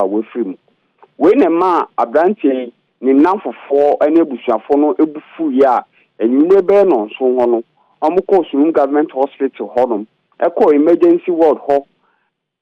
a wafiri mu. Wei na ɛmaa aberanteɛ yi, ne nnamfofoɔ ne abusuafoɔ no bo fuiɛ a anwummerɛ bɛyɛ nnɔnson hɔ no, wɔkɔɔ Surum Government Hospital hɔnom, kɔɔ Emergency Ward hɔ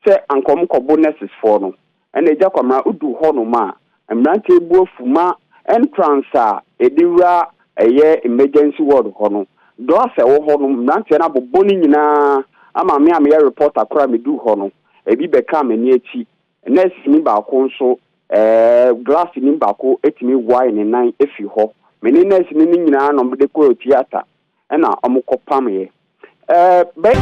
sɛ anka wɔkɔbo nurses-foɔ no. Ɛnna Agya Kwamina duu hɔnom a, mmeranteɛ yi bo afu ma entrance a yɛde wura ɛyɛ Emergency Ward hɔ no, glass a ɛwɔ hɔ no, mmeranteɛ no abobɔ ne nyinaa ama me a meyɛ reporter koraa a meduu hɔ no, ebi bɛkaa m'ani akyi. Nɛɛseni baako nso, ɛɛ, glaseni baako tumi wae ne nan firi hɔ. Me ne nɛɛseni no nyinaa na wɔde kɔɔ tiata, ɛna wɔkɔpameeɛ. Ɛɛ, bɛ.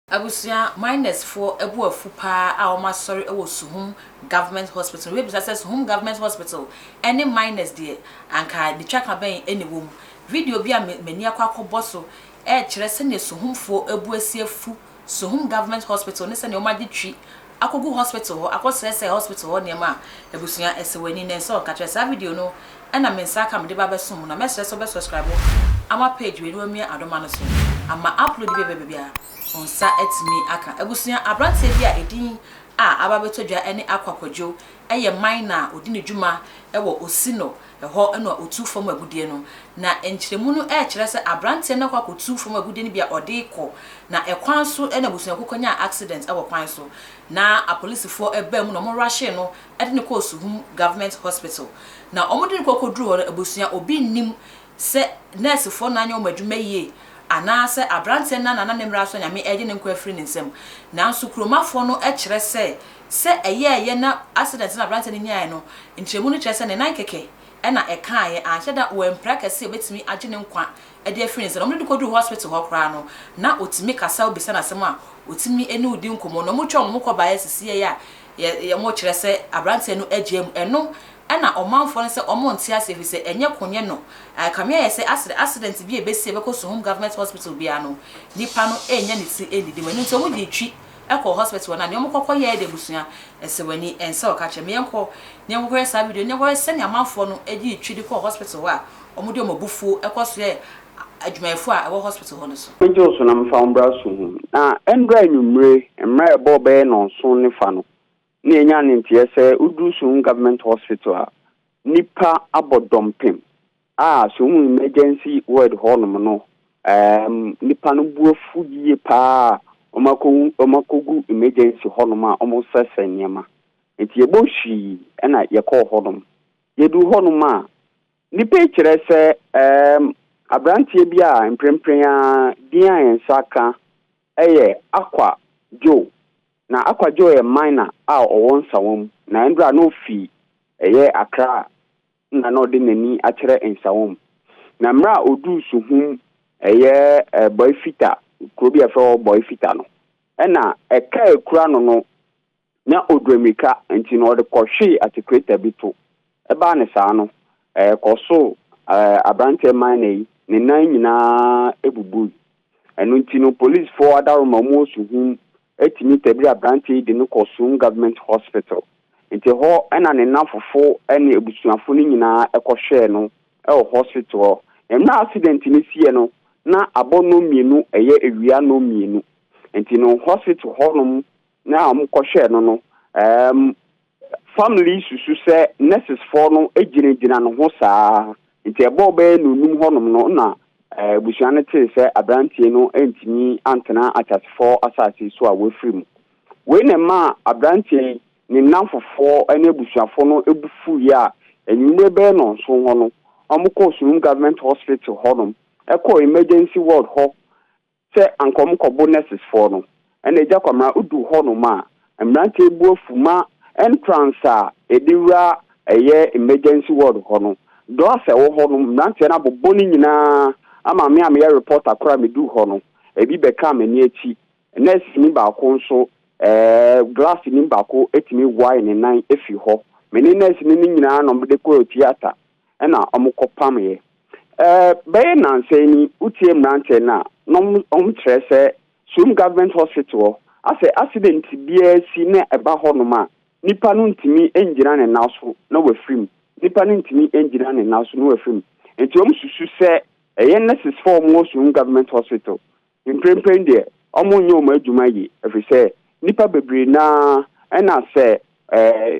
Abusua my nurse foɔ abu afu paa a wɔn asɔre wɔ suhum government hospital no wobɛbisa sɛ suhum government hospital ne my nurse deɛ anka nitwaka bɛn na ɛwɔ mu video bi a mani akɔ akɔbɔ so ɛrekyerɛ sɛnea Suhumfoɔ abu asi afu Suhum Government Hospital ne sɛnea wɔagye twi akɔgu hospital hɔ akɔsɛesɛe hospital hɔ nneɛma a abusua ɛsɛ w'ani nnɛ nsɛ ɔka kyerɛ saa video no ɛnam me nsa aka mede ba abɛsom mu na mɛsrɛ sɛ wobɛ subscribe ama page wei na wamia adoma no so ama upload bi a ɛbɛba biara wo nsa atumi aka abusua abranteɛ bi a ɛdin a aba abɛtɔ dwa ɛne Akwa Kwadwo ɛyɛ miner a ɔdi ne dwuma ɛwɔ Osino Ɛhɔ na ɔtuu fam agudeɛ no. Na nkyerɛmu no rekyerɛ sɛ aberanteɛ no akɔ akɔtu fam agudeɛ no bi a ɔde rekɔ, na ɛkwan so na abusuakuo kɔnyaa accident wɔ kwan so, na apolisifoɔ baa mu na wɔn rushe no de no kɔɔ Suhum Government Hospital. Na wɔde no kɔ kɔduruu hɔ no, abusua, obi nnim sɛ nɛɛsefoɔ no anyɛ wɔn adwuma yie, anaasɛ aberanteɛ no na n'ananmmerɛ aso a Nyame regye ne nkwa afiri ne nsam. Nanso kuromafoɔ no kyerɛ sɛ Sɛ ɛyɛeɛ na accident no a aberanteɛ no nyaeɛ no nkyerɛmu no kyerɛ sɛ ne nan kɛkɛ na ɛkaaeɛ, anhyɛ da wampira kɛse a ɛbɛtumi agye ne nkwa de afiri ne nsa no, wɔde no kɔduruu hospital hɔ koraa no, na ɔtumi kasa, wobisa no asɛm a, ɔtumi ne wo di nkɔmmɔ, na wɔtwa wɔn ho kɔ baeɛ sɛ sii a wɔkyerɛ sɛ aberanteɛ no agyaa mu. Ɛno na ɔmanfoɔ no sɛ wɔnte aseɛ ɛfiri sɛ ɛnyɛ ko nyɛ no. Ɛkame ayɛ sɛ asɛ accident bi a ɛbɛsi a ɛbɛkɔ Suhum Government Hospital biara no, nipa no nnya ne ti nnidi mu, ɛno nti wɔde twi kɔ hospital hɔ na nea wɔkɔ kɔ yɛɛ de abusua ɛsɛ wani ɛnsɛ ɔka kyerɛ me yɛn kɔ na yɛn kɔ kɔ yɛ saa video no na wɔyɛ sɛnea amanfoɔ no ɛdi ne twi de kɔ hospital hɔ a wɔn de wɔn abufuo ɛkɔ so yɛ adwumayɛfoɔ a ɛwɔ hospital hɔ no so. Megye wo so na mefa wo mmra so hu. Na ɛndra anwummire, mmra ɛbɔ bɛyɛ nnɔnson ne fa no, Nea enya ne nteɛ, sɛ woduru Sohum Government Hospital a, nnipa abɔ dɔmpem a Sohum Emergency Ward hɔnom no, nnipa no bo afu yie pa ara a wɔakɔwu, wɔakɔgu emergency hɔnom a wɔresrɛsrɛ nneɛma. Nti yɛbɔ hwii na yɛkɔɔ hɔnom. Yɛduru hɔnom a, nnipa yi kyerɛ sɛ aberanteɛ bi a mprempren ara din a yɛn nsa aka yɛ Akwa Joe Na Akwadwo yɛ miner a ɔwɔ Nsawam na mbrɛ a na ofi yɛ Accra nna na ɔde n'ani akyerɛ Nsawam. Na mbrɛ a odur Suhum yɛ Boifita, kuro bi a yɛfrɛ hɔ Boifita no, nna kaa ekura no no nya odwammirika ntsi no ɔde kɔhwee atsekreta bi to Ɛbaa no saa no, ɛkɔsoo aberanteɛ minor yi, ne nan nyinaa bubui. Ɛno nti no, polisfoɔ adaworoma a wɔwɔ Suhum tumi tabirii aberanteɛ yi de no kɔɔ Suhum Government Hospital. Nti hɔ na ne nnamfofo ne abusuafo no nyinaa kɔhwɛɛ no wɔ hospital hɔ. Na mmerɛ a accident no siiɛ no, na abɔ nnɔnmienu ɛyɛ awia nnɔnmienu. Nti no, hospital hɔnom na wɔkɔhwɛɛ no no, Family susu sɛ nurses foɔ no gyina gyina ne ho saa nti ɛbɔɔ bɛyɛ nonum hɔ nom no na abusua no tee sɛ abranteɛ no ntumi antena akyasefɔɔ asaase so a wafiri mu wei na ɛmaa abranteɛ yi ne nnamfofoɔ ne abusuafoɔ no bu fuiɛ a anwummere bɛyɛ nɔnson hɔ no wɔn kɔɔ Surum Government Hospital hɔ nom ɛkɔɔ emergency ward hɔ Sɛ anka wɔn kɔbo nurses foɔ no ɛna agya kwamina odu hɔ nom a mmeranteɛ bu afu ma entrance a yɛde wura ɛyɛ emergency ward hɔ no glass a ɛwɔ hɔ nom mmeranteɛ no abobɔ no nyinaa ama me a meyɛ reporter koraa medu hɔ no ebi bɛkaa m'ani akyi nurse ni baako nso ɛɛ glass ni baako ɛtumi wae ne nan ɛfiri hɔ me ne nurse ni no nyinaa nom de kɔɔ theatre na wɔkɔpamee. Bɛyɛ nnansa ni wotie mmeranteɛ no a, na wɔkyerɛ sɛ Soum Government Hospital hɔ, asɛ accident biara si na ɛba hɔnom a, nipa no ntumi ngyina ne nan so na wafiri mu. Nipa no ntumi ngyina ne nan so na wafiri mu. Nti wɔsusu sɛ ɛyɛ nurses foɔ a wɔwɔ Soum Government Hospital Mprempren deɛ, wɔnyɛ wɔn adwuma yie, ɛfiri sɛ nnipa bebree no ara, ɛna sɛ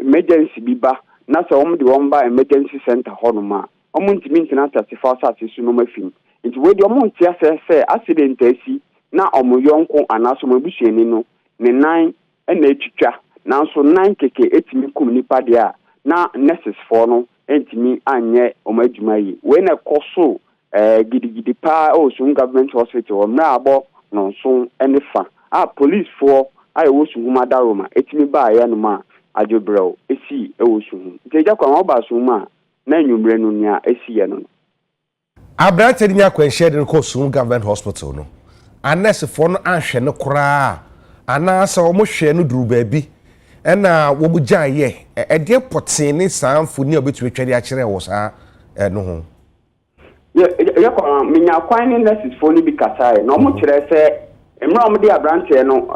emergency bi ba, na sɛ wɔde wɔn ba emergency centre hɔnom a, wɔntumi ntena Ateasefoɔ asase so na wɔafi mu. Nti wei deɛ, wɔnte aseɛ sɛ accident asi na wɔn yɔnko anaasɛ wɔn abusuani no ne nan na etwitwa, nanso na nkeke tumi kum nnipa deɛ a, na nɛsesfoɔ no ntumi nyɛ wɔn adwuma yie. Wei na ɛkɔ so gidigidi pa ara wɔ Suhum Government Hospital hɔ, mmerɛ a abɔ nnɔnson ne fa a polisfoɔ a wɔwɔ Suhum adaworoma tumi baa yɛ nom a adwebrɛw sii wɔ Suhum. Nti Agya Kwame, wobaa Suhum a, na anwummerɛ no nea ɛsiiɛ no no. Aberanteɛ no nya akwanhyia de no kɔɔ Sum Government Hospital no, anɛɛsefoɔ no anhwɛ no koraa anaasɛ wɔhwɛɛ no duruu baabi na wɔgyaeɛ. Ɛdeɛn pɔtee ne saa mfoni a wobɛtumi atwa de akyerɛ wɔ saa no ho? Yɛkɔ no, menyaa kwan ne nɛɛsesfoɔ no bi kasaeɛ, na wɔkyerɛɛ sɛ mmerɛ a wɔde aberanteɛ no,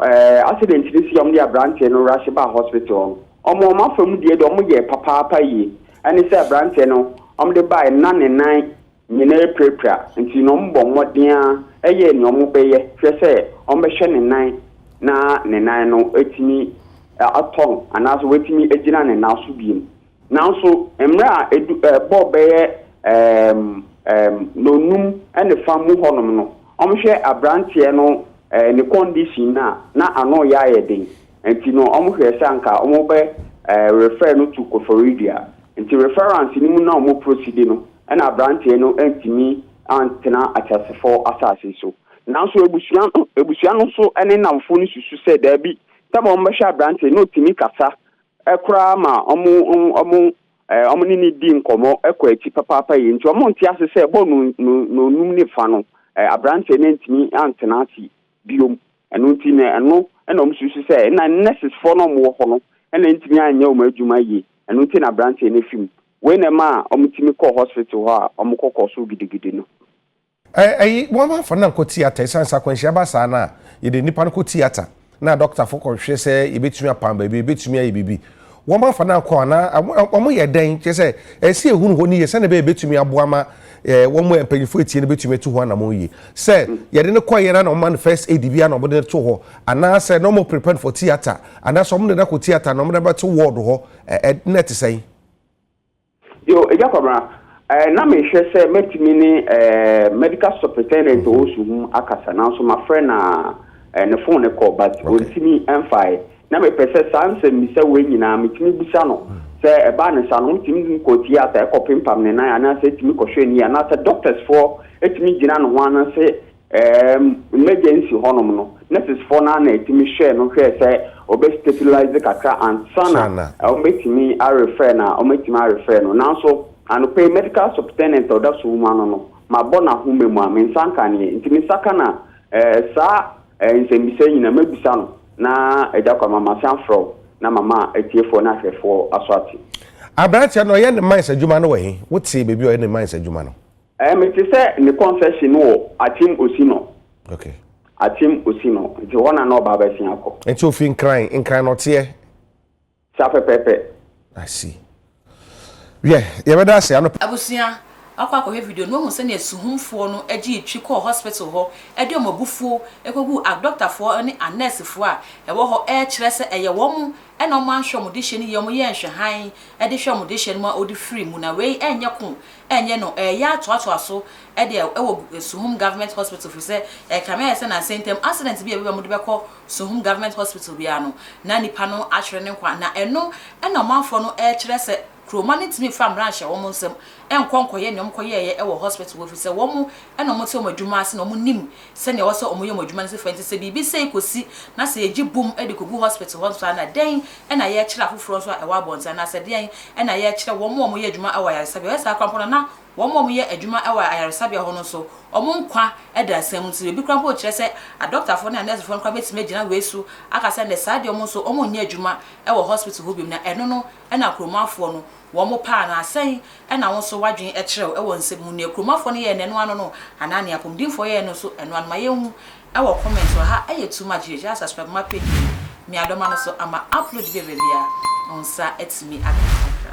accident no sii a wɔde aberanteɛ no rush baa hospital no, Wɔn wɔn afa mu deɛ deɛ wɔn yɛɛ papaapa yie ɛne sɛ abranteɛ no wɔn de baeɛ no na ne nan nyinaa apirapira nti no wɔn bɔ mmɔden ara yɛɛ nea wɔn bɛyɛ hwɛ sɛ wɔn bɛhwɛ ne nan na ne nan no atumi atɔ no anaasɛ watumi agyina ne nan so biem nanso mmerɛ a edu ɛbɔ bɛyɛ ɛɛm ɛɛm nonum ɛne fa mu hɔnom no wɔn hwɛ abranteɛ no ɛɛ ne condition na na ano yɛ ayɛ den. Nti no ɔmo hwɛɛ sɛ anka ɔmo bɛ refer no to Kofori Dua. Nti reference no mu na ɔmo prosidi no ɛna abranteɛ no antumi antena ateasefɔɔ asaase so. Nanso abusua no abusua no nso ɛne nnamfoɔ no susu sɛ daabi tam a ɔmo bɛhwɛ abranteɛ no na ɔtumi kasa koraa ma ɔmo ɔmo ɔmo ne no di nkɔmɔ kɔ akyi papaapa yie. Nti ɔmo nte ase sɛ bɔ no no nonum ne fa no abranteɛ no antumi antena ase biom Ɛno nti na ɛno na wɔn susu sɛ na nurses foɔ no wɔn wɔ hɔ no na ntumi anyɛ wɔn adwuma yie. Ɛno nti na abranteɛ no fi mu. Wei na ɛma a wɔn tumi kɔɔ hospital hɔ a wɔn kɔ kɔɔ so gidigidi no. Ɛyi wɔn ma fa nam kɔ theatre ɛsan sɛ akwanhyia ba saa no a yɛde nipa no kɔ theatre na doctor foɔ kɔ hwɛ sɛ yɛbɛtumi apam baabi a yɛbɛtumi ayɛ biribi Wɔn afa no akɔ anaa wɔyɛ dɛn? Kyerɛ sɛ, ɛsɛ sɛ yɛhunu hɔ no yie sɛdeɛ ɛbɛyɛ ɛbɛtumi aboa ma wɔn a mpanyinfoɔ atie no bɛtumi atu ho anammɔn yie. Sɛ yɛde no kɔeɛ na wɔma no first aid bi a na wɔde no to hɔ anaasɛ na wɔn prepare no for theatre anaasɛ wɔde no akɔ theatre na wɔde abɛto ward hɔ na ɛte sɛn? Yo, Agya Kwabena, eh, na mehwɛ sɛ mɛtumi ne eh, medical superintendent ɔwɔ Suhum akasa nanso mafrɛ na eh, ne phone no kɔ but okay. ɔntumi ɛmfae na mepɛ sɛ saa nsɛmmisa wei nyinaa metumi bisa no mm. sɛ ɛbaa ne sa no wotumi kɔ theatre ɛkɔ pempam ne nan anaasɛ ɛtumi kɔhwɛ ni anaasɛ doctors foɔ ɛtumi gyina no ho anase Erm, n'agya nsi hɔnom no, nɛsesfoɔ no ara na ɛtumi hwɛɛ no hwɛɛ sɛ ɔbɛ stabilise kakra ansa na wɔbɛtumi arefɛɛ no a wɔatumi arefɛɛ no. Nanso, anɔpa yi, medical subtenent a ɔda so wom ano no, mabɔ no ahoma mu a, me nsa nka aneɛ. Nti me nsa ka no a, eh, saa eh, nsɛmmisa yi nyinaa mɛbisa no na Agya Kwama masan afrɛ wo na mama atiefoɔ ne ahwɛfoɔ aso ate. Aberanteɛ no, ɔyɛ ne mines adwuma no wɔ he? Wotee baabi a ɔyɛ ne mines adwuma no? Eh mete sɛ ne confession no wɔ Akyem Osino. Okay. Akyem Osino. Nti hɔ na na ɔba abɛsen akɔ. Nti ofi Nkran, Nkran na ɔteɛ? Sa pɛpɛpɛ. I see. Yɛ, yɛbɛda ase anɔpa. Abusua, wakɔ akɔhwɛ video no wahu sɛnea suhumfoɔ no gyee twi kɔɔ hospital hɔ de wɔn abufuo kɔguu akdɔktafoɔ ne anɛɛsefoɔ a ɛwɔ hɔ rekyerɛ sɛ ɛyɛ wɔn na wɔanhwɛ wɔn dehyɛ no yie, wɔyɛɛ nhwɛhan de hwɛɛ wɔn dehyɛ no ma wɔde firii mu, na wei nyɛ ko ɛnyɛ no ɛɛyɛ atoatoa so de wɔ Suhum Government Hospital firi sɛ ɛkame ayɛ sɛ nansa ntam accident bi a ɛbɛba mu de bɛkɔ Suhum Government Hospital biara no na nnipa no atwere ne nkwa na ɛno na ɔmanfoɔ no ɛɛkyerɛ sɛ Kuroma no ntumi mfa mmara nhyɛ wɔn nsam nkɔ nkɔyɛ nea wɔkɔyɛeɛ wɔ hospital hɔ firi sɛ wɔn na wɔte wɔn adwuma ase na wɔnim sɛnea ɔwɔ sɛ wɔyɛ wɔn adwuma no sifo nti sɛ biribi sɛe kosi na sɛ yegye bom de kogu hospital hɔ nso a na dɛn na yɛrekyerɛ afoforɔ nso a ɛwɔ abɔnten anaasɛ deɛn na yɛrekyerɛ wɔn a wɔyɛ adwuma wɔ ayaresabea wɔyɛ saa koraa mpo no na wɔn a wɔyɛ adwuma wɔ ayaresabea hɔ no nso wɔn nkwa da nsɛm mu nti baabi koraa mpo kyerɛ sɛ adɔktafoɔ ne anɛɛsefoɔ no koraa bɛtumi agyina wei so aka sɛ nɛ saa deɛ wɔn nso wɔn nyɛ adwuma wɔ hospital hɔ biom na ɛno no na kuromuafoɔ no Wɔn paa no a, sɛn na wo nso w'adwen kyerɛ wo wɔ nsɛm ho? Nea Kuromafoɔ no yɛɛ no ɛno ano no, anaa nea Apɔmudinfoɔ yɛɛ no nso ɛno ano? Ma yɛn hu wɔ comments hɔ ha. Ɛyɛ too much yie. Gyaa subscribe ma page yi, Meadoma no so ama upload bi a ɛba biara wo nsa atumi aka bi kakra.